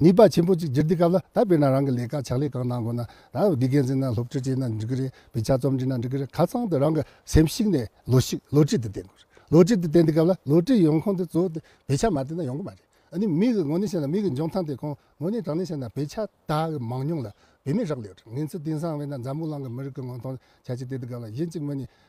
ནུས་པ་ཆེན་པོ་གཅིག་གྱུར་འདི་སྐབས་ལ་ད་དཔེར་ན་རང་གི་ལས་ཀ་ཕྱག་ལས་གང་གནང་དགོས་ན་རང་གི་དགེ་རྒན་ཚོས་ན་སློབ་ཁྲིད་བྱས་ན་འགྲིག་གི་རེད་བའི་ཆ་རྩོམ་འབྲི་ན་འགྲིག་གི་རེད་ཁ་ཚང་དུ་རང་གི་སེམས་གཤིག་ནས་ལོ་ཞིག་ལོ་ཁྲིད་དུ་བསྟེན་དགོས་རེད་ལོ་ཁྲིད་དུ་བསྟེན་དུས་སྐབས་ལ་ལོ་ཁྲིད་ཡོང་ཁོངས་དེ་གཙོ་བོ་དེ་བའི་ཆ་མ་བསྟེན་ན་ཡོང་གི་མ་རེད་ཨ་ནི་མིག་གི་ངོ་ནས་བཤད་ན་མིག་གི་འཇོན་ཐང་དེ་ཁོང་ངོ་ནས་དྲང་ནས་བཤད་ན་བའི་ཆ་དག་གི་མང་ཉུང་ལ་བེད་མེད་རག་ལས་རེད་ངེད་ཚོ་དེང་སང་བས་ན་འཛམ་བུ་གླང་གི་མི་རིགས་ཀྱི་ངོ་མཐོང་ཆ་གཅིག་དེ་དུས་སྐབས་ལ་གཞན་གཅིག་མི་གཉིས་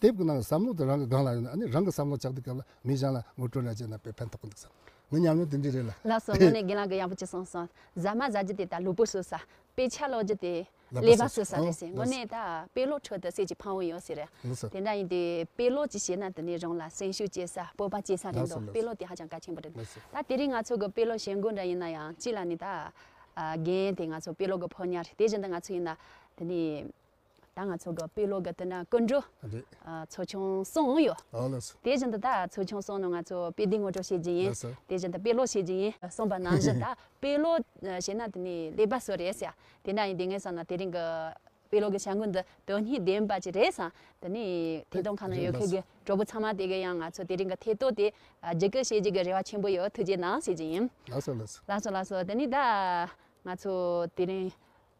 དེབ་ཀྱི་ནང་གི་བསམ་བློ་དེ་རང་གི་སྒང་ལ་ཡོད་ན་ནི་རང་གི་བསམ་བློ་ལྕགས་སྡིག་སྐེམ་ལ་མི་གཞན་ལ་ངོ་སྤྲོད་ལས་ཅི་ན་པའི་ཕན་ཐོགས་ཀྱི་འདུག་བསམ། ངའི་ཉམས་མྱོང་དེ་འདྲས་རེད་ལ། ལགས་སོ་དངོས་གནས་རྒན་ལགས་གི་ཡག་པོ་གཅིག་གསུངས་སོང། ཟ་མ་ཟ་རྒྱུ་དེ་ད་ལུས་པོ་བཟོ་ས། དཔེ་ཆ་ཀློག་རྒྱུ་དེ་ཀླད་པ་བཟོ་ས་རེད་ཟེར། དངོས་གནས་ད་དཔེ་ཀློག་ཁྲོད་དུ་ཟས་ཀྱི་ཕང་བོ་ཡོད་ཟེར། དེ་འདྲ་ཡིན་དུས་དཔེ་ཀློག་ཅིག་བྱས་ན་དེ་ནི་རང་ལ་སེམས་ཤུགས་སྐྱེ་ས་སྤོབས་པ་སྐྱེ་ས་རེད་འདུག་དཔེ་ཀློག་དེ་ཧ་ཅང་གལ་ཆེན་པོ་རེད་འདུག་ད་དེ་རིང་ང་ཚོ་གི་དཔེ་ཀློག་བྱེད་སྒོ་འདྲ་ཡིན་ན་ཡང་གཅིག་ལ་ནི་ད། རྒན་དེ་ང་ཚོ་དཔེ་ཀློག་གི་ཕོ་ཉར་དེ་བཞིན་དུ་ང་ཚོ་ཡིན་ན་དེ་ནི། ད་ང་ཚོ་གི་དཔེ་ཀློག་གི་དེ་ན་ཀུན་འགྲོ་ཚོ་ཆུང་སོང་ཡོད། དེ་བཞིན་དུ་ད་ཚོ་ཆུང་སོང་ནས་ང་ཚོ་དཔེ་དེབ་ངོ་སྤྲོད་བྱེད་ཀྱི་ཡིན། དེ་བཞིན་དུ་དཔེ་ཀློག་བྱེད་ཀྱི་ཡིན། གསུངས་པ་ནང་བཞིན་ད་དཔེ་ཀློག་བྱེད་ན་དེ་ནི་ལེགས་པ་སུ་རེད་ཟེར། དེ་ན་ཡིན་དེ་ངས་བསམ་ན་དེ་རིང་གི་དཔེ་ཀློག་གི་བྱ་འགུལ་འདི་དོན་སྙིང་ལྡན་པ་ཅིག་རེད་བསམ། དེ་ནི་ཐད་གཏོང་ཁང་ན་ཡོད་མཁན་གྱི་གྲོགས་པོ་ཚང་མ་དེ་གས་ཡང་ང་ཚོ་དེ་རིང་གི་ཐད་གཏོགས་དེ་བརྒྱུད་སྐུལ་བྱེད་རྒྱུ་གི་རེ་བ་ཆེན་པོ་ཡོད་ཐུགས་རྗེ་གནང་ཞུ་རྒྱུ་ཡིན། ལགས་སོ་ལགས་སོ་ལགས་སོ་ལགས་སོ་དེ་ནི་ད་ང་ཚོ་དེ་རིང།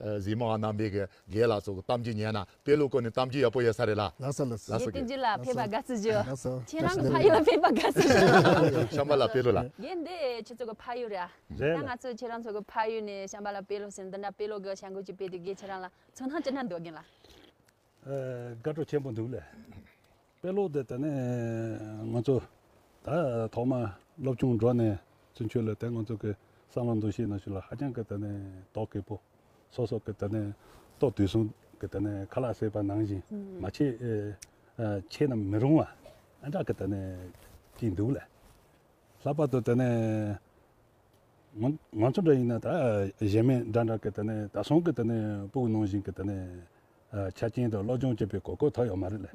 གཟིགས་མོ་ཨ་རྣམ་པའི་དགེ་ལགས་སུ་གཏམ་རྒྱུད་ཉན་ན་དཔེ་ལུགས་སྐོར་ནས་གཏམ་རྒྱུད་ཡག་པོ་ཡོད་ས་རེད་ལ། ལགས་སོ་ལགས་སོ། ལགས་སོ་ལགས་སོ། ལགས་སོ་ལགས་སོ། ཁྱེད་རང་གི་ཕ་ཡུལ་ལ་ཕེབས་པ་དགའ་བསུ་ཞུ། བྱམས་པ་ལགས་དཔེ་ལུགས་ལ། རྒན་འདི་ཁྱེད་ཚོ་གི་ཕ་ཡུལ་རེད་ཨ། རེད་ལ། ད་ང་ཚོས་ཁྱེད་རང་ཚོ་གི་ཕ་ཡུལ་ནས་བྱམས་པ་ལགས་དཔེ་ལུགས་ཟེར་འདི་འདྲ་དཔེ་ལུགས་གི་བྱ་འགུལ་གྱི་དཔེ་དེ་དགེ་ཁྱེད་རང་ལ་ཚོ་སྣང་ཅི་འདྲ་འདོད་རྒན་ལགས། དགའ་སྤྲོ་ཆེན་པོ་འདུག་ལས་དཔེ་ཀློག་དེ་ད་ནས་ང་ཚོ་ད་ཐོག་མར་སློབ་ཆུང་འགྲོ་ནས་ཚུན་ཆོད་ལ་དེ་ང་ཚོ་གི་བསམ་བློ་འདུ་ཤེས་ནང་ཞུགས་ལ་ཧ་ཅང་གི་ད་ནས་དོགས་གི་པོ་སོ་སོ་གི་ད་ནས་ཏོག་དུས་སུ་གི་ད་ནས་ཁ་ལག་བསྲེས་པ་ནང་བཞིན་མ་བྱེད་བྱེད་ན་མི་རུང་བ་ཨ་འདྲ་གི་ད་ནས་ཀྱི་འདུག་ལས། ལྷག་པར་དུ་ད་ནས་ང་ཚོ་འདྲ་ཡིན་ན་ད་གཞས་མེད་འདྲ་འདྲ་གི་ད་ནས་ད་སོང་གི་ད་ནས་སྤུ་གུ་ནང་བཞིན་གི་ད་ནས། ཆ་རྐྱེན་དང་བློ་སྦྱོང་བྱེད་པའི་གོ་སྐབས་ཐོབ་ཡོད་མ་རེད་ལ།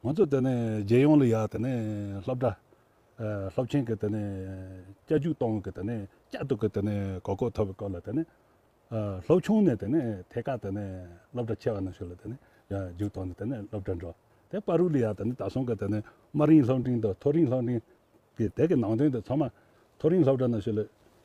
ང་ཚོ་དེ་ནས་རྒྱལ་ཡོངས་ལ་ཡར་དེ་ནས་སློབ་གྲྭ། སློབ་ཆེན་གྱི་དེ་ནས་བསྐྱར་ཞུགས་གཏོང་བའི་གི་དེ་ནས་བསྐྱར་དུ་གི་དེ་ནས་གོ་སྐབས་ཐོབ་པའི་སྐོར་ལ་དེ་ནས། སློབ་ཆུང་ནས་དེ་ནས་ཐད་ཀར་དེ་ནས་སློབ་གྲྭ་ཆེ་བ་ནང་ཞུགས་ལ་དེ་ནས་རྒྱུགས་གཏོང་ནས་དེ་ནས་སློབ་གྲྭར་འགྲོ། དེ་པར་རུ་ལ་ཡར་དེ་ནས་ད་སོང་གི་དེ་ནས་དམའ་རིང་སློབ་འབྲིང་དང་མཐོ་རིང་སློབ་འབྲིང། གི་དེ་གི་ནང་དོན་དེ་ཚང་མ་མཐོ་རིང་སློབ་གྲྭ་ནང་ཞུགས་ལ།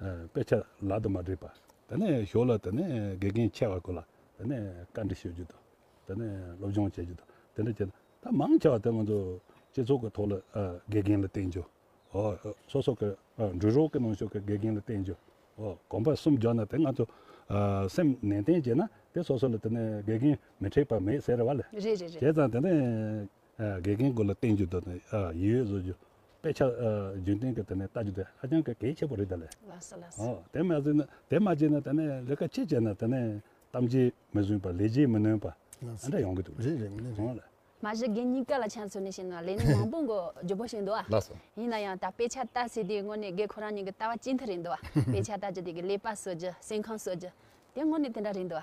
དཔེ་ཆ་ལག་ཏུ་མ་སྒྲིག་པ་དེ་ནས་ཞོར་ལ་དེ་ནས་དགེ་རྒན་ཆེ་བ་སྐོར་ལ་དེ་ནས་བཀའ་འདྲི་ཞུ་རྒྱུ་དང་དེ་ནས་སློབ་སྦྱོང་བྱེད་རྒྱུ་དང་དེ་འདྲ་བྱས་ན་ད་མང་ཆེ་བ་དེ་ང་ཚོ་སྤྱི་ཚོགས་ཀྱི་ཐོག་ལ་དགེ་རྒན་ལ་བསྟེན་རྒྱུ། སོ་སོ་གི་འགྲུལ་རོགས་ཀྱི་ནང་ཞུགས་ཀྱི་དགེ་རྒན་ལ་བསྟེན་རྒྱུ། གོམ་པ་གསུམ་རྒྱག་ན་དེ་ང་ཚོ་སེམས་ནན་ཏན་བྱས་ན་དེ་སོ་སོ་ལ་དེ་ནས་དགེ་རྒན་མི་འཁྲེགས་པ་མེད་ཟེར་བ་ལས། རེད་རེད་རེད། བྱས་ཙང་དེ་ནས། དགེ་རྒན་དགོས་ལ་བསྟན་རྒྱུ་དང་ཡིད་ཡོད་བཟོ་རྒྱུ། དཔེ་ཆ་རྒྱུན་གཏན་གྱི་ཐོག་ནས་ལྟ་རྒྱུ་དེ་ཧ་ཅང་གལ་ཆེ་པོ་རེད་ད་ལས། དེ་མ་བྱས་ན་དེ་མ་བྱས་ན་ད་ནས་ལས་ཀ་ཅི་བྱས་ན་ད་ནས་གཏམ་རྗེས་མི་བཟུང་པ་ལས་རྗེས་མི་ནོན་པ་ཨ་འདྲ་ཡོང་གི་འདུག་རེད་རེད་རེད་རེད། མ་གཞི་དགེ་རྙིང་ཀ་ལ་ཆ་མཚོན་ནས་བཤད་ན་ལས་ནི་མང་པོ་འགོ་རྒྱུ་པོ་ཞིག་འདུག་ཨ། ཡིན་ན་ཡང་ད་དཔེ་ཆ་ལྟ་ཟེར་དུས་དངོས་གནས་དགེ་ཁོ་རང་གཉིས་ཀྱི་ལྟ་བ་གཅིག་མཐུན་རེད་འདུག་ཨ། དཔེ་ཆ་ལྟ་རྒྱུ་དེ་གི་ལས་པ་བཟོ་རྒྱུ་སེམས་ཁམས་གསོ་རྒྱུ་དེ་དངོས་གནས་དེ་འདྲ་རེད་འདུག་ཨ།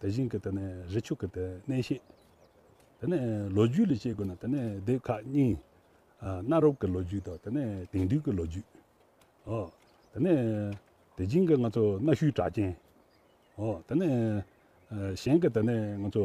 དེ་བཞིན་གྱི་དེ་ནས་རི་ཆུ་གི་དེ་གནས་ཤེས། དེ་ནས་ལོ་རྒྱུས་ལས་དཔྱད་དགོས་ན་དེ་ནས་སྡེ་ཁག་གཉིས། གནའ་རབས་ཀྱི་ལོ་རྒྱུས་དང་དེ་ནས་དེང་དུས་ཀྱི་ལོ་རྒྱུས། དེ་ནས་དེ་བཞིན་གྱི་ང་ཚོ་གནའ་ཤུལ་གྲགས་ཅན། དེ་ནས་གཞན་གྱི་དེ་ནས་ང་ཚོ།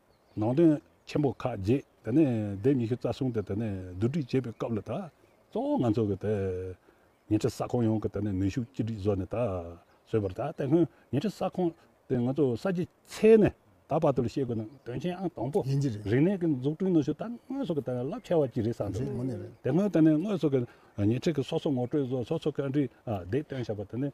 ནང་དོན་ཆེན་པོ་ཁག་བརྒྱད་དེ་ནས་ལྡེབ་ཉི་ཤུ་རྩ་གསུམ་དེ་དེ་ནས་བསྡུ་སྒྲིག་བྱེད་པའི་སྐབས་ལ་ད་གཙོ་བོ་ང་ཚོ་གི་དེ་ཉེ་འཁྲིས་ས་ཁོངས་ཡོངས་ཀྱི་དེ་ནས་ནུས་ཤུགས་གཅིག་སྒྲིལ་བཟོ་ནས་ད་གཟོད་པར་ད་ལྟ་ཁོན་ཉེ་འཁྲིས་ས་ཁོངས་དེ་ང་ཚོ་ས་བྱི་ཚེས་ནས་ད་བར་དུ་ལ་བཤད་དགོས་ན་དོན་ཆེན་ཨང་དང་པོ་ཡིན་གྱི་རེད། རིག་གནས་ཀྱི་འཛུགས་སྐྲུན་ནུས་ཤུགས་ད་དངོས་སུ་གི་དེ་ནས་རླབས་ཆེ་བ་གཅིག་རེད་བསམ་འདུག་དེ་སྔོན་དེ་ནས་དངོས་སུ་གི་ཉེ་འཁྲིས་ཀྱི་སོ་སོ་ངོ་སྤྲོད་བཟོ་སོ་སོ་གི་འདྲི་བདེ་སྟོན་བྱ་བ་དེ་ནས་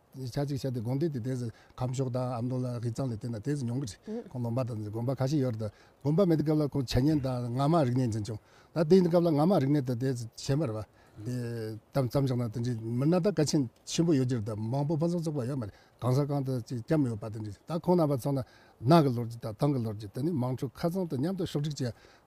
ཆ་གཅིག་བྱས་ཏེ་དགོན་སྡེ་དེ་དེས་ཁམས་ཕྱོགས་དང་ཨ་མདོ་ལ་དབྱི་ཚང་ལས་བརྟེན་ན་དེས་མྱོང་གི་རེད་ཁོང་ལོ་འབའ་དང་དགོན་པ་ཁ་ཤས་ཡོད་རེད་དགོན་པ་མེད་དུས་སྐབས་ལ་ཁོང་བྱས་ཉེན་དང་ངར་མ་རིག་གནས་འཛིན་བྱུང་ད་དེ་ཡིན་སྐབས་ལ་ངར་མ་རིག་གནས་དང་དེས་བྱས་མ་རེད་པ། དེ་ཙམ་ཞིག་ན་དེ་འདྲའི་མི་སྣ་དང་ཀ་ཆེན་ཆེན་པོ་ཡོད་ཀྱི་རེད་མང་པོ་ཕུན་སུམ་ཚོགས་པ་ཡོད་མ་རེད་གང་ས་གང་དུ་ཅིག་སྐྱབས་ཡོད་པ་དེ་འདྲའི་རེད་ད་ཁོང་རྣམ་པ་ཚང་ན་ནང་གི་ལོ་རྒྱུས་དང་ཏང་གི་ལོ་རྒྱུས་དེ་ནི་དམངས་ཁྲོད་ཁ་ཚང་དུ་མཉམ་དུ་ཕྱོགས་བསྒྲིགས་བྱས་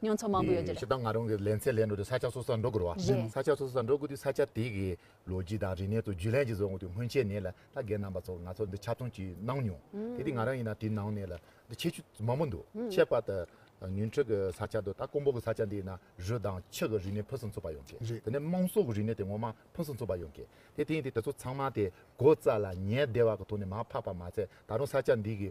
མྱོང་ཚོར་མང་པོ་ཡོད་རྒྱུ་རེད། ཞེ་སྡང་ང་རང་གིས་ལན་ཚད་ལེན་འགྲོ་དུས་ས་ཆ་སོ་སོར་འགྲོ་དགོས་རེད། བཞི། ས་ཆ་སོ་སོར་འགྲོ་དགོས་དུས་ས་ཆ་དེ་གའི་ལོ་རྒྱུས་དང་རིག་གནས་སོགས་བརྒྱུད་ལན་གྱིས་བཟོ་དགོས་དུས་སྔོན་ཆད་ནས་ལ་ད་རྒན་རྣམ་པ་ཚོར་ང་ཚོར་འདི་ཆ་མཐོང་གྱིས་གནང་མྱོང། དེ་དུས་ང་རང་ཡིན་ན་དེའི་ནང་ནས་ལ་འདི་ཆེ་ཆུ་མང་པོ་འདུག་ཁྱད་པར་དུ་ཉུང་འཕྲི་གི་ས་ཆ་འདུག་ད་ཀོང་པོ་གི་ས་ཆ་འདི་ན་རུས་དང་ཆུ་གི་རིག་གནས་ཕུན་སུམ་ཚོགས་པ་ཡོང་གི། རེད། དེ་ནས་དམངས་སྲོལ་གྱི་རིག་གནས་དེ་ངོ་མ་ཕུན་སུམ་ཚོགས་པ་ཡོང་གི། དེ་དེ་ཡིན་དུས་དེ་ཚོ་ཚང་མ་དེ་སྒོ་རྩ་ལ་ཉལ་བདེ་བ་གི་ཐོག་ནས་མ་ཕབ་པ་མ་ཚད་ད་རུང་ས་ཆ་འདི་གའི་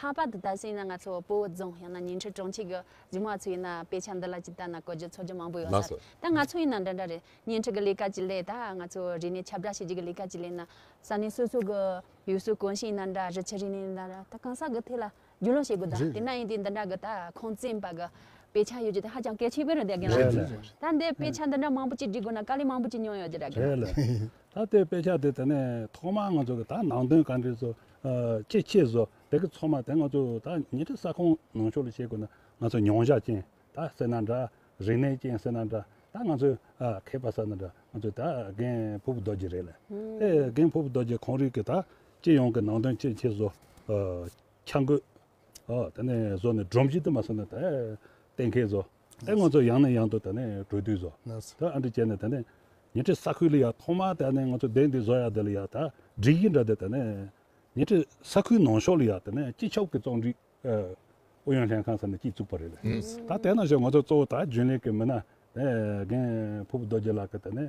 ལྷག་པར་དུ་ད་གཟོད་ཡིན་ན་ང་ཚོ་སྤོ་བོ་རྫོང་ཡང་ན་ཉིང་ཁྲི་གྲོང་ཁྱེར་གྱི་རྒྱུ་མ་ཚོ་ཡིན་ན་དཔེ་ཆ་འདི་ལ་ཅི་ལྟར་ན་གོ་རྒྱུ་ཚོར་རྒྱུ་མང་པོ་ཡོད་སར་ད་ང་ཚོ་ཡིན་ན་འདྲ་འདྲ་རེད་ཉིང་ཁྲི་གི་ལས་ཀ་གྱི་ལས་ད་ང་ཚོ་རིག་གནས་ཁྱབ་བསྒྲགས་བྱེད་རྒྱུ་གི་ལས་ཀ་གྱི་ལས་ན་ས་གནས་སོ་སོ་གི་ཡུལ་སྲོལ་གོམས་གཤིས་ཡིན་ན་འདྲ་རི་ཆུ་རིག་གནས་ཡིན་ན་འདྲ་ད་གང་ཟག་གི་ཐད་ལ་རྒྱུས་ལོན་བྱེད་དགོས་ད་དེ་ན་ཡིན་དུས་འདི་འདྲ་གི་ད་ཁང་བཙན་པ་གི་དཔེ་ཆ་ཡོད་རྒྱུ་དེ་ཧ་ཅང་གལ་ཆེ་བོ་རེད་འདེད་རྒན་ལགས་ད་འདི་དཔེ་ཆ་འདི་འདྲ་མང་པོ་གཅིག་སྒྲིག་དགོས་ན་དཀའ་ལས་མང་པོ་གཅིག་མྱོང་ཡོད་རྒྱུ་རེད་རྒན་ལགས་ད་ལྟའི་དཔེ་ཆ་དེ་ད་ནས་ཐོག་མར་ང་ཚོ་གི་ད་ནང་དོན་ག་འདྲའི་ཚོ་ཅེས་ཆེས་བཟོ་བདེ་གི་ཚོགས་མ་དེ་ང་ཚོས་ད་ཉེ་དུས་ས་ཁོངས་ནང་ཆོས་ལ་བྱེད་དགོས་ན་ང་ཚོས་མྱོང་བཞག་ཅན་ད་ཟེར་ན་འདྲ་རིག་གནས་ཅན་ཟེར་ན་འདྲ་ད་ང་ཚོས་མཁས་པ་ཟེར་ན་འདྲ་ང་ཚོས་ད་རྒན་ཕུ་བོ་རྡོ་རྗེ་རེད་ལ་ཨེ་རྒན་ཕུ་བོ་རྡོ་རྗེ་གོང་རིག་གི་ད་སྤྱི་ཡོངས་ཀྱི་ནང་དོན་ཅེས་ཆེས་བཟོ་འཆར་འགོད་དེ་ནས་བཟོ་ནས་སྒྲོམ་གཞི་དུ་མ་ཟེར་ན་ད་གཏན་འཁེལ་བཟོ། ཨེ་ང་ཚོ་ཡང་ནས་ཡང་དུ་ད་ནས་བྲོས་དུས་བཟོ་ད་ཨ་འདྲི་བྱས་ནས་ད་ནས་ཉེ་འཁྲིས་ས་ཁུལ་ལ་ཡང་ཐོག་མར་ད་ནས་ང་ཚོ་བསྡད་འདི་བཟོ་ཡག་འདི་ལ་ཡག་ད་འདྲི་གི་འདྲ་འདི་ད་ནས་ཉེ་འཁྲིས་ས་ཁུལ་ནང་ཤོག་ལ་ཡག་ད་ནས་སྤྱི་ཁྱབ་ཀྱི་རྩོམ་སྒྲིག་ཨུ་ཡོན་ལྷན་ཁང་ཟེར་ནས་སྐྱིད་བཙུགས་པ་རེད་ད་དེ་ནང་ཤོག་ང་ཚོ་གཙོ་བོ་ད་རྒྱུན་ལས་ཀྱི་མི་སྣ་རྒན་ཕུབ་རྡོ་རྗེ་ལགས་ཀྱི་ད་ནས་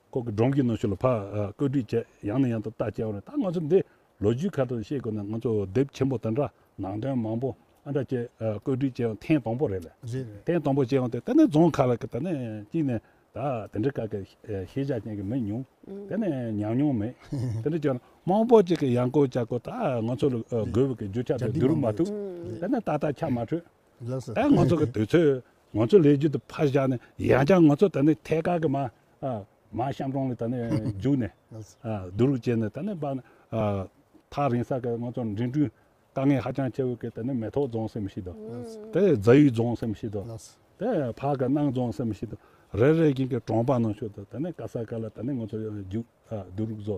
ཁོ་གི་སྒྲོམ་གྱི་ནང་ཤུ་ལ་ཕག་བཀོད་སྒྲིག་བྱས་ཡང་ནས་ཡང་དུ་བལྟ་བྱས་བར་ད་ང་ཚོ་འདི་ལོ་རྒྱུས་ཁ་ཐོར་ཤེས་དགོས་ན་ང་ཚོ་དེབ་ཆེན་པོ་དེ་འདྲ་ནང་དོན་མང་པོ་ཨ་འདྲ་བྱས་བཀོད་སྒྲིག་བྱས་ཡང་ཐེངས་དང་པོ་རེད་ལ་ཐེངས་དང་པོ་བྱས་ཡང་དེ་ད་ནས་རྫོང་ཁག་ལ་ད་ནས་གཅིག་ནས་ད་དེ་འདྲ་ག་གི་ཤེས་བྱ་ཅན་གི་མི་ཉུང་དེ་ནས་ཉམས་མྱོང་མེད་དེ་འདྲ་བྱས་ན་མང་པོ་ཅིག་གི་ཡང་བཀོད་བྱ་དགོས་ད་ང་ཚོ་ལ་དགོས་པའི་གི་རྒྱུ་ཆ་དེ་བསྡུ་རུ་མ་ཐུབ་དེ་ནས་ད་ད་ཆ་མ་འཕྲོད་ད་ང་ཚོ་གི་དུས་ཚོད་ང་ཚོ་ལས་རྒྱུ་དེ་ཕར་བཞག་ནས་ཡང་ཀྱང་ང་ཚོ་ད་ནི་ཐད་ཀར་གྱི་མ་མ་ཤམ་རོང་ལ་ད་ནི་རྒྱུགས་ནས་བསྡུ་རུག་བྱས་ནས་ད་ནི་པར་ཐག་རིང་ས་ཀྱི་ང་ཚོ་འགྲིམ་འགྲུལ་དཀའ་ངལ་ཧ་ཅང་ཆེ་བའི་སྐད་ད་ནི་མེ་ཐོག་རྫོང་སེམས་ཤིག་དང་དེ་རྫ་ཡུལ་རྫོང་སེམས་ཤིག་དང་དེ་ཕག་གི་སྣང་རྫོང་སེམས་ཤིག་དང་རེ་རེ་བཞིན་གྱི་གྲོང་པ་ནང་ཆུ་དང་ད་ནི་ཀ་ས་ཀ་ལ་ད་ནི་ང་ཚོ་རྒྱུགས་བསྡུ་རུག་བཟོ་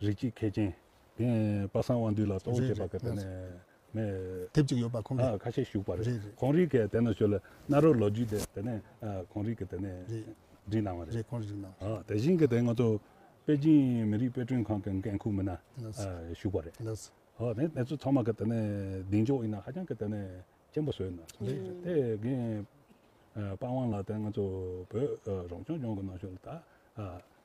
རིགས་གཅིག་མཁས་ཅན། དེ་ཡང་པ་སངས་དབང་འདུས་ལ་གཏོང་བྱེད་པ་ག་དེ་ནས་མེད། དེབ་ཅིག་ཡོད་པ་ཁོང་གི། ཁ་ཤས་ཞུགས་པ་རེད། ཁོང་རིགས་གས་དེ་ནས་བྱོས་ལ་གནའ་རོ་ལོ་རྒྱུས་དེ་དེ་ནས་ཁོང་རིགས་གས་དེ་ནས་བསྒྲིགས་གནང་བ་རེད། རེད་ཁོང་རིགས་གནང་བ་རེད། དེ་བཞིན་གས་དེ་ང་ཚོ་པེ་ཅིན་མི་རིགས་དཔེ་སྐྲུན་ཁང་གི་འགན་ཁུར་མི་སྣ་ཞུགས་པ་རེད། ལགས་སོ། དེ་དེ་ཚོ་ཚང་མ་གས་དེ་ནས་གདེང་འཇོག་ཡིན་ན་ཧ་ཅང་གས་དེ་ནས་ཅན་པོ་བཟོས་གནང་སོང། དེ་གས་པ་དབང་ལགས་དེ་ང་ཚོ་བོད་རང་སྐྱོང་ལྗོངས་གི་ནང་བྱོས་ལ་ད།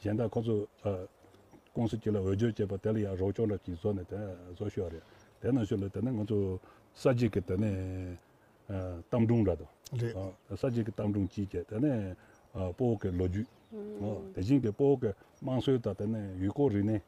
གཞན་དག་ཁོ་ཚོས། ཀུང་སི་གཅིག་ལ་འོས་སྦྱོར་བྱས་པ་དེ་ལ་ཡང་རོགས་སྐྱོར་ལ་གཅིག་བཟོ་ནས་དེ་བཟོ་ཤོས་རེད། དེ་ནང་ཆོས་ལ་དེ་ནི་ང་ཚོ། ས་གཅིག་གི་དེ་ནི། གཏམ་སྒྲུང་འདྲ་དང། ས་གཅིག་གི་གཏམ་སྒྲུང་གཅིག་བྱས་དེ་ནི། སྤོ་བོ་ཀའི་ལོ་རྒྱུས། དེ་བཞིན་གྱི་སྤོ་བོ་ཀའི་དམངས་སྲོལ་དང་དེ་ནི་ཡུལ་སྐོར་རིག་གནས།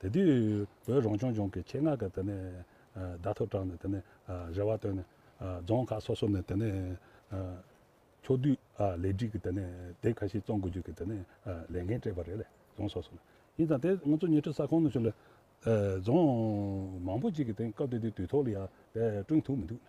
དེ་དུས་བོད་རང་སྐྱོང་ལྗོངས་ཀྱི་ཆེད་མངགས་ཀྱི་དེ་ནས་བརྡ་ཐོ་དྲངས་ནས་དེ་ནས་རེ་བ་བཏོན་ནས་རྫོང་ཁག་སོ་སོ་ནས་དེ་ནས་ཕྱོགས་བསྡུས་ལེགས་སྒྲིག་གི་དེ་ནས་དེབ་ཁ་ཤས་བཙོང་དགོས་རྒྱུ་གྱི་དེ་ནས་ལས་འགན་སྤྲད་པ་རེད་ལས་རྫོང་སོ་སོ་ནས་ཡིན་ཙང་དེ་ང་ཚོ་ཉེ་འཁྲིས་ས་ཁོངས་ནས་ཆུ་ལས་རྫོང་མང་པོ་ཅིག་གི་དེ་སྐབས་དེ་དུས་དུས་ཐོག་ལ་ཡང་དེ་བསྐྲུན་ཐུབ་མི་འདུག་ནས།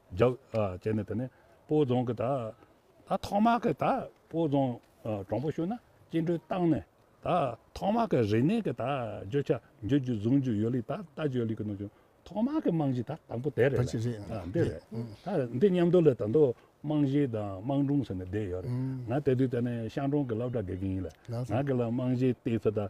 རྒྱག་བྱས་ནས་དེ་ནས་སྤོ་རྫོང་གི་ད་ད་ཐོག་མ་གི་ད་སྤོ་རྫོང་གྲོང་པོ་ཤུ་ན་སྐྱེལ་འདྲུད་བཏང་ནས་ད་ཐོག་མ་གི་རིག་གནས་གི་ད་བརྗོད་བྱ་འཇུག་རྒྱུ་གཟུང་རྒྱུ་ཡོད་ལིགས་ད་ལྟ་བརྗོད་ལིགས་གི་ནང་བྱུང་ཐོག་མ་གི་རྨང་གཞི་ད་དང་པོ་དེ་རེད་ལ་འདི་རེད་ད་འདི་མཉམ་དུ་ལ་ད་དོ་རྨང་གཞི་དང་དམངས་སྒྲུང་ཟེར་ནས་བསྡད་ཡོད་རེད་ང་དེ་དུས་དེ་ནས་ཤང་གྲོང་གི་སློབ་གྲྭ་དགེ་རྒན་ཡིན་ལ་ང་གི་ལ་རྨང་གཞི་བལྟས་ཚེ་ད།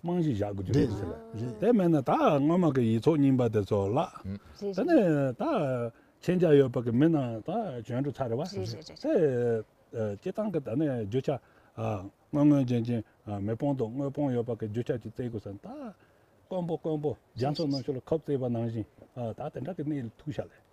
རྨང་གཞི་བཞག་དགོས་རྒྱུ་རེད། དེ་མེད་ན་ད་སྔོན་མ་གི་ཡིག་ཚོགས་རྙིང་པ་དེ་ཚོ་བརླགས། དེ་ནས་ད་ཁྱེད་ཅག་ཡོད་པ་གི་མི་རྣམས་ད་བྱོན་འགྲོ་ཚར་བ། དེ་སྤྱི་བཏང་གི་ད་ནས་རྒྱུ་ཆ་དངོས་དངོས་རྗེན་རྗེན་མི་སྤོང་དང་དངོས་སྤོང་ཡོད་པ་གི་རྒྱུ་ཆ་ཅིག་བཙལ་དགོས་ས་ནི་ད་དཀོན་པོ་དཀོན་པོ་རྒྱ་མཚོ་ནང་ཆུ་ལ་ཁབ་བཙལ་བ་ནང་བཞིན་ད་དེ་འདྲ་གི་གནས་ལ་ཐུག་ཤག་ལས།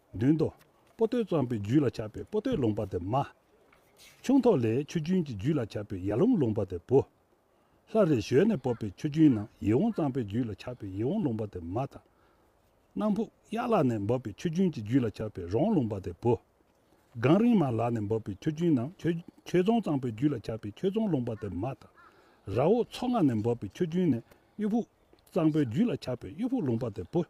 མདུན་དུ། པོ་ཏོས་བཙོངས་པའི་རྒྱུད་ལ་ཆགས་པའི་པོ་ཏོའི་ལུང་པ་སྟེ་མ། ཁྱུང་ཐོག་ལས་ཆུ་རྒྱུན་གྱི་རྒྱུད་ལ་ཆགས་པའི་ཡར་ལུང་ལུང་པ་སྟེ་བུ། ལྷ་རེ་ཞོལ་ནས་སྤོབས་པའི་ཆུ་རྒྱུན་ན་ཡིད་འོང་གཙང་པའི་རྒྱུད་ལ་ཆགས་པའི་ཡིད་འོང་ལུང་པ་སྟེ་མ་དང། གནམ་ཕུག་གཡག་ལག་ནས་འབབ་པའི་ཆུ་རྒྱུན་གྱི་རྒྱུད་ལ་ཆགས་པའི་རོང་ལུང་པ་སྟེ་བུ། སྒང་རིང་མ་ལག་ནས་འབབ་པའི་ཆུ་རྒྱུན་ན་ཁྱོད་རྫོང་གཙང་པའི་རྒྱུད་ལ་ཆགས་པའི་ཁྱོད་རྫོང་ལུང་པ་སྟེ་མ་དང། ར་འོག་མཚོ་རྔ་ནས་འབབ་པའི་ཆུ་རྒྱུན་ནས་གཡུ་ཕུག་གཙང་པའི་རྒྱུད་ལ་ཆགས་པའི་གཡུ་ཕུག་ལུང་པ་སྟེ་བུ།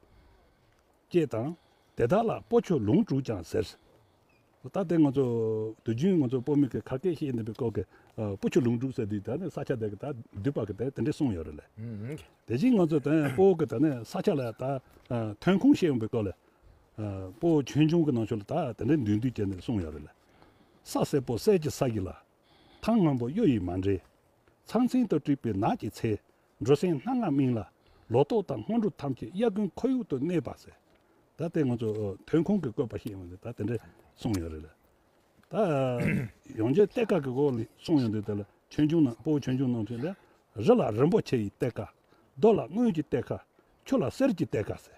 ཅེས་དང། དེ་དག་ལ་སྤོ་ཆུ་ལུང་དྲུག་ཀྱང་ཟེར། ད་ལྟའི་ང་ཚོ་དུས་རྒྱུན་ང་ཚོ་སྤོ་མི་གི་ཁ་སྐད་ཤེས་ཡོན་ལྡན་པའི་སྐོར་གི་སྤོ་ཆུ་ལུང་དྲུག་ཟེར་དུས་ད་ནི་ས་ཆ་དེ་གི་ད་འདུས་པ་གི་དེ་དེ་འདྲས་གསུངས་ཡོད་རེད་ལ། དེ་བཞིན་ང་ཚོ་ད་སྤོ་གི་ད་ནི་ས་ཆ་ལ་ད་ཐོན་ཁུངས་ཤེས་ཡོན་པའི་སྐོར་ལ། སྤོ་ཆོས་འབྱུང་གི་ནང་ཆོས་ལ་ད་དེ་འདྲས་འདུས་འདུས་ཅེས་ནས་གསུངས་ཡོད་རེད་ལ། ས་སེར་པོ་གསེར་གྱི་ས་ཡིན་ལ། ཐང་སྔོན་པོ་གཡུ་ཡིས་མ་འདྲེས། ཚང་ཚིང་དུ་དཀྲིགས་པའི་ནགས་ཀྱི་ཚལ། འགྲོ་སེང་སྣ་ལྔ་སྨིན་ལ་ལོ་ཏོག་དང་སྔོ་འབྲུ་ཐམས་ཅད་དབྱར་དགུན་ཁོར་ཡུག་ཏུ་གནས་པ་ཟེར། ད་དེ་ང་ཚོ་ཐོན་ཁུངས་ཀྱི་བཀོད་པ་ཞིག་ཡིན་པ་ལས་ད་དེ་འདྲས་གསུངས་ཡོད་རེད་ལ། ད་ཡོང་རྗེས་གཏེར་ཁ་གི་སྐོར་ལས་གསུངས་ཡོད་འདུག་དེ་ལ་ཆོས་འབྱུང་ནང་སྤོ་བོ་ཆོས་འབྱུང་ནང་དོན་ལས། རི་ལ་རིན་པོ་ཆེ་ཡི་གཏེར་ཁ། རྡོ་ལ་དངུལ་གྱི་གཏེར་ཁ། ཆུ་ལ་གསེར་གྱི་གཏེར་ཁ་ཟེར།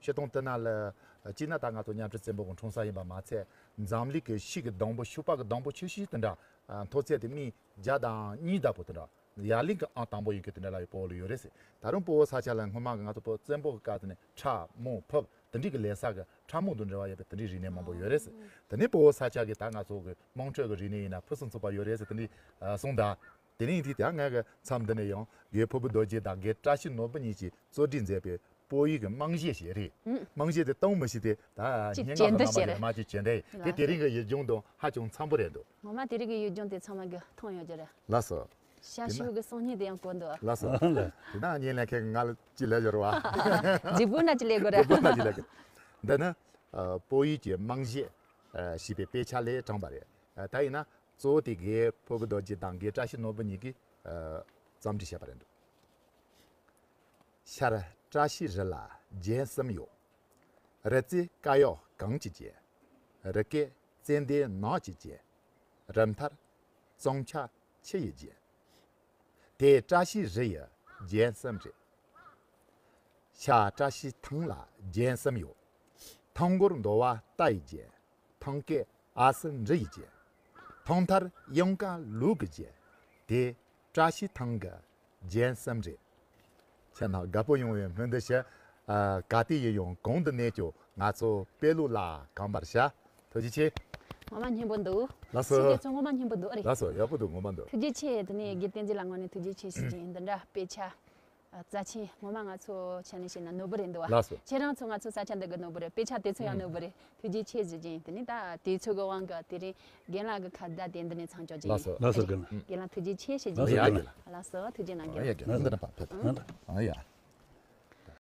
ཤེས་དང་བསྟུན་ན་ལ། སྤྱིར་ན་ད་ང་ཚོ་མཉམ་འབྲེལ་བཙན་པོ་གོང་འཁྲུངས་ས་ཡིན་པ་མ་ཚད། འཛམ་གླིང་གི་ཤིག་གི་སྡོང་པོ་ཤུ་པག་གི་སྡོང་པོ་ཆུ་ཤིང་དེ་འདྲ། མཐོ་ཚད་དེ་སྨི་བརྒྱ་དང་གཉིས་བརྡབ་པོ་དེ་འདྲ། ཡར་ལིང་གི་ཨང་དང་པོ་ཡོད་མཁན་དེ་འདྲ་ལ་ཡོད་པོ་ལ་ཡོད་རེད་ཟེར། ད་རུང་སྤོ་བོ་ས་ཆ་ལ་སྔོན་མ་གི་ང་ཚོ་བཙན་པོ་གི་སྐབས་དེ་ནས་ཁྲ་མུ་ཕུབ་དེ་འདྲི་གི་ལས་ས་གི་ཁྲ་མུ་དང་འབྲེལ་བ་ཡོད་པའི་དེ་འདྲི་རིག་གནས་མང་པོ་ཡོད་རེད་ཟེར། དེ་ནས་སྤོ་བོ་ས་ཆ་གི་ད་ང་ཚོ་གི་དམངས་ཁྲོད་གི་རིག་གནས་ཡིན་ན་ཕུན་སུམ་ཚོགས་པ་ཡོད་རེད་ཟེར་དེ་འདྲི་གསུངས་གདའ། དེ་རིང་དུས་དེ་སྔའི་མཚམས་འདི་ནས་ཡང་རྒྱའི་ཕུར་བུ་རྡོ་རྗེ་དང་རྒྱའི་བཀྲ་ཤིས་ནོར་བུ་གཉིས་ཀྱིས་གཙོ་སྒྲིག་མཛད་པའི་པོ་ཡིག་གི་རྨང་གཞི་ཞེས་རིགས་རྨང་གཞི་དེ་སྟོང་མི་ཤིས་ཏེ་ད་སྙན་ངག་གི་རྣམ་པ་ཡོད་མ་ཅིག་བྱེད་འདི་དེ་དེ་རིང་གི་ཡིག་རྒྱུན་དང་ཧ་ཅང་འཚམ་པོ་རེད་འདུག། ངོ་མ་དེ་རིང་གི་ཡིག་རྒྱུན་དེ་ཚང་མ་གི་མཐོང་ཡོང་རྒྱུ་རེད། ལགས་སོ། ཞྭ་དེ་ན། ཤེའུ་གི་སང་ཉིན་དེ་ཡང་གོ་འདུག། ལགས་སོ། དེ་ན་ཉིན་ལས་མཁན་གྱི་ང་ལ་ཅི་ལས་འབྱོར་བ། རྗེ་དགུན་ལ་ཅི་ལས་དགོས་རེད། རྗེ་དགུན་ལ་ཅི་ལས་དགོས། འདི་ནི། པོ་ཡིག་གི་རྨང་གཞི། ཞེས་པའི་དཔེ་ཆ་ལས་དྲངས་པ་རེད། ད་ཡིན་ན། གཙོ་བོ་དེ་གའི་ཕོ་བུ་རྡོ་རྗེ་དང་གའི་བཀྲ་ཤིས་ནོར་བུ་གཉིས་ཀྱིས་རྩོམ་འབྲི་བྱས་པ་རེད་འདུག་ཤར། བཀྲ་ཤིས་རི་ལ་རྒྱལ་གསུམ་ཡོད། རི་རྩེ་དཀར་གཡོག་གངས་ཀྱིས་བརྒྱན། རི་སྐེད་ཙན་དན་ནགས་ཀྱིས་བརྒྱན། རི་མཐར་ཙོང་ཆ་ཁྱི་ཡིས་བརྒྱན། དེ་བཀྲ་ཤིས་རི་ཡི་རྒྱལ་གསུམ་རེད། ཤར་བཀྲ་ཤིས་ཐང་ལ་རྒྱལ་གསུམ་ཡོད། ཐང་མགོར་མདོ་བ་རྟ་ཡིས་བརྒྱན། ཐང་སྐེད་ཨ་སི་འབྲི་ཡི་རྗེ། ཐོག་མཐར་གཡང་དཀར་ལུག་གི་རྗེ། དེ་བཀྲ་ཤིས་ཐང་གི་རྗེ་བསམ་རེད། ཁྱེད་རྣམས་དགའ་པོ་ཡོང་བའི་སྨོན་འདུན་ཞུ། ག་དུས་ཡིན་ཡང་གང་དུ་གནས་ཀྱང་ང་ཚོ་དཔལ་ལུགས་ལ་གང་པར་བྱ། ཐུགས་རྗེ་ཆེ། ངོ་མ་སྙན་པོ་འདུག། ལགས་སོ། ཕྱི་རྒྱལ་ཚོ་ངོ་མ་སྙན་པོ་འདུག་ཨ་རེ། ལགས་སོ་ཡག་པོ་འདུག་ངོ་མ་འདུག། ཐུགས་རྗེ་ཆེ། དེ་ནས་དགེ་བསྟན་རྗེ་ལ་ངོ་ནས་ཐུགས་རྗེ་ཆེ་ཞུ་རྒྱུ་ཡིན་འདི་འདྲ་དཔེ་ཆ། རྩ་ཆེན། ངོ་མ་ང་ཚོ་ཆ་ནས་བཤད་ན་ནོར་བུ་རེད་འདུག་ལགས་སོ། ཁྱེད་རང་ཚོ་ང་ཚོ་ས་ཆ་འདི་གི་ནོར་བུ་རེད་དཔེ་ཆ་དེ་ཚོ་ཡང་ནོར་བུ་རེད་ཐུགས་རྗེ་ཆེ་ཟེར་གྱིན་དེ་ནས་ད་དུས་ཚོད་ཀྱི་དབང་གིས་དེ་རིང་རྒན་ལགས་ཀྱི་ཁ་བརྡ་དེ་འདི་ནས་ཚང་འཇོག་རྒྱུ་ཡིན། ལགས་སོ་རྒན། རྒན་ལགས་ཐུགས་རྗེ་ཆེ་ཞེས་བརྗོད་ལགས་སོ་རྒན། ལགས་སོ་ཐུགས་རྗེ་གནང་རྒྱུ། ཡ་རྒན།